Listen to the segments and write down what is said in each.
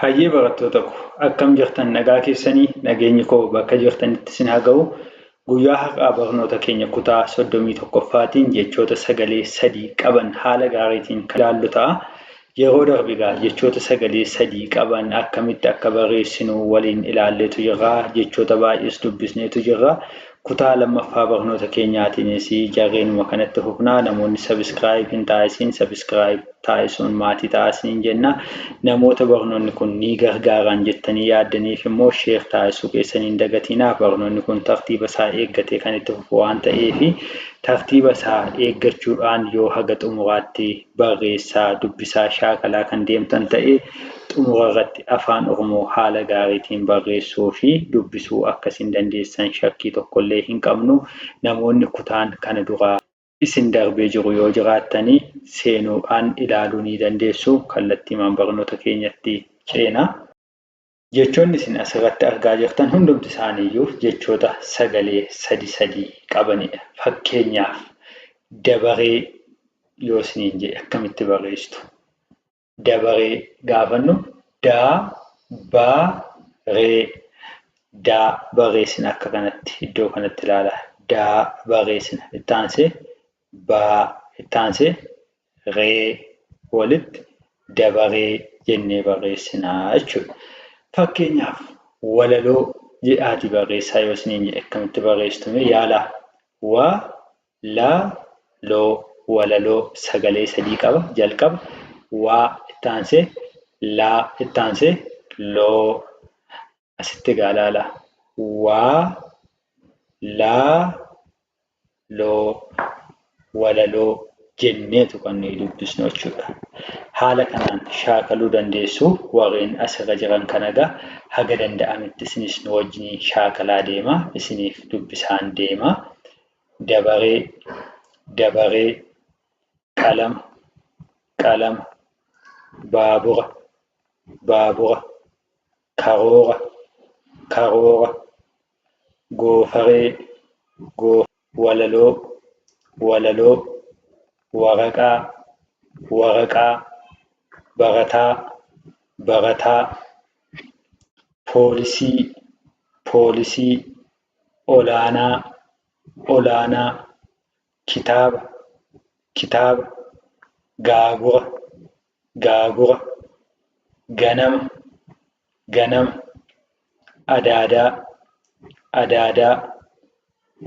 Hayyee barattoota ko akkam jirtan nagaa keessanii nageenyi koo bakka jirtanitti isin haa ga'u guyyaa har'aa barnoota keenya kutaa 31ffaatiin jechoota sagalee sadii qaban haala gaariitiin kan ilaallu ta'a yeroo darbe egaa jechoota sagalee sadii qaban akkamitti akka barreessinu waliin ilaalleetu jirra jechoota baay'ees dubbisneetu jirra Kutaa lammaffaa barnoota keenyaatiinis jarreenuma kana itti fufna. Namoonni subscribe hin taasisin subscribe taasisuun maatii ta'aa isiniin jenna. Namoota barnoonni kun ni gargaaraan jettanii yaaddaniif immoo share taasisuu keessan hin dagatiinaa. Barnoonni kun tartiiba isaa eeggatee kan itti fufu waan ta'eef tartiiba isaa eeggachuudhaan yoo haga xumuraatti barreessaa, dubbisaa, shaakalaa kan deemtan ta'e xumura irratti Afaan Oromoo haala gaariitiin barreessuu fi dubbisuu akka isin dandeessan shakkii tokko illee hin qabnu. Namoonni kutaan kana dura. isin darbee jiru yoo jiraattan seenuudhaan ilaaluu ni dandeessu. Kallattiimaan barnoota keenyatti ceena. Jechoonni isin as irratti argaa jirtan hundumti isaanii iyyuu jechoota sagalee sadi sadi qabani dha. Fakkeenyaaf, dabaree yoo isiniin jedhe akkamitti barreessitu? Dabaree gaafannu daa ba ree daa barreessina akka kanatti iddoo kanatti ilaala. Daa barreessina itti aansee baa itti aansee ree walitti dabaree jennee barreessina jechuudha. Fakkeenyaaf walaloo jedhaatii barreessaa yoo isiniin jedhe akkamitti barreessitu mee yaalaa? Wa, la, loo walaloo sagalee sadii qaba jalqaba waa itti aansee laa itti aansee loo asitti egaa ilaala waa laa loo walaloo jenneetu kan nuyi dubbisnu jechuudha. Haala kanaan shaakaluu dandeessu warreen asirra jiran kana egaa haga danda'ametti isinis nu wajjiniin shaakalaa deema isiniif dubbisaan deema dabaree dabaree qalama qalama baabura baabura karoora karoora goofaree goofaree walaloo walaloo waraqaa waraqaa barataa barataa poolisii poolisii olaanaa olaanaa kitaaba kitaaba gaagura gaagura, ganama, ganama, adaadaa, adaadaa,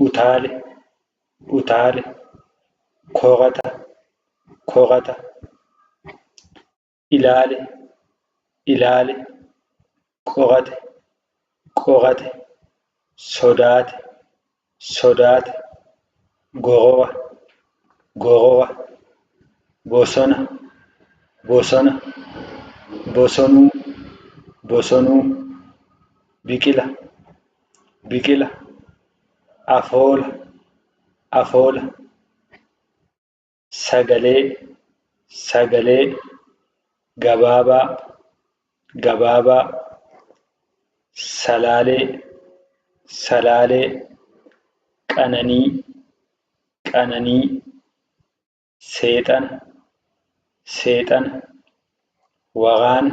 utaale, utaale, korata, korata, ilaale, ilaale, qorate, qorate, sodaate, sodaata, gorowa, gorowa, bosona, bosona, bosonuu, bosonuu, biqila, biqila, afoola, afoola. sagalee sagalee gabaabaa gabaabaa salaalee salaalee qananii qananii seexana seexana waraana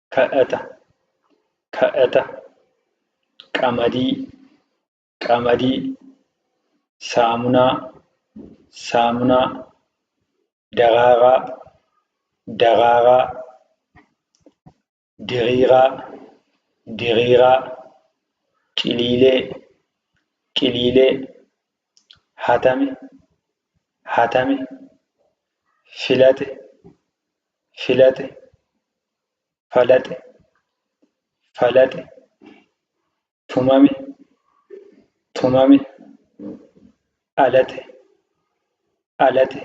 kadhata kadhata qamadii qamadii saamunaa saamunaa daraaraa daraaraa diriiraa diriiraa ciliilee ciliilee hatame hatame filate filate falaxe, falaxe, tumame, tumame, alate, alate,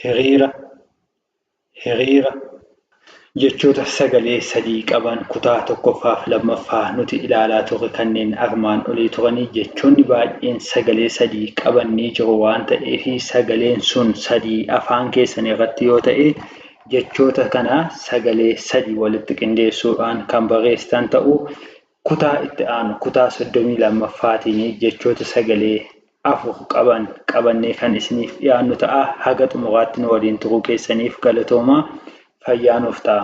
hiriira, hiriira. Jechoota sagalee sadii qaban kutaa tokkoffaa fi lammaffaa nuti ilaalaa turre kanneen armaan olii turanii jechoonni baay'een sagalee sadii qaban ni jiru waan ta'eef sagaleen sun sadii afaan keessan irratti yoo ta'e Jechoota kana sagalee sadii walitti qindeessuudhaan kan barreessitan ta'uu kutaa itti aanu, kutaa 32ffaatiin jechoota sagalee afur qaban qabannee kan isiniif dhiyaannu ta'a. Haga xumuraatti nu waliin turuu keessaniif galatoomaa. Fayyaa nuuf ta'aa.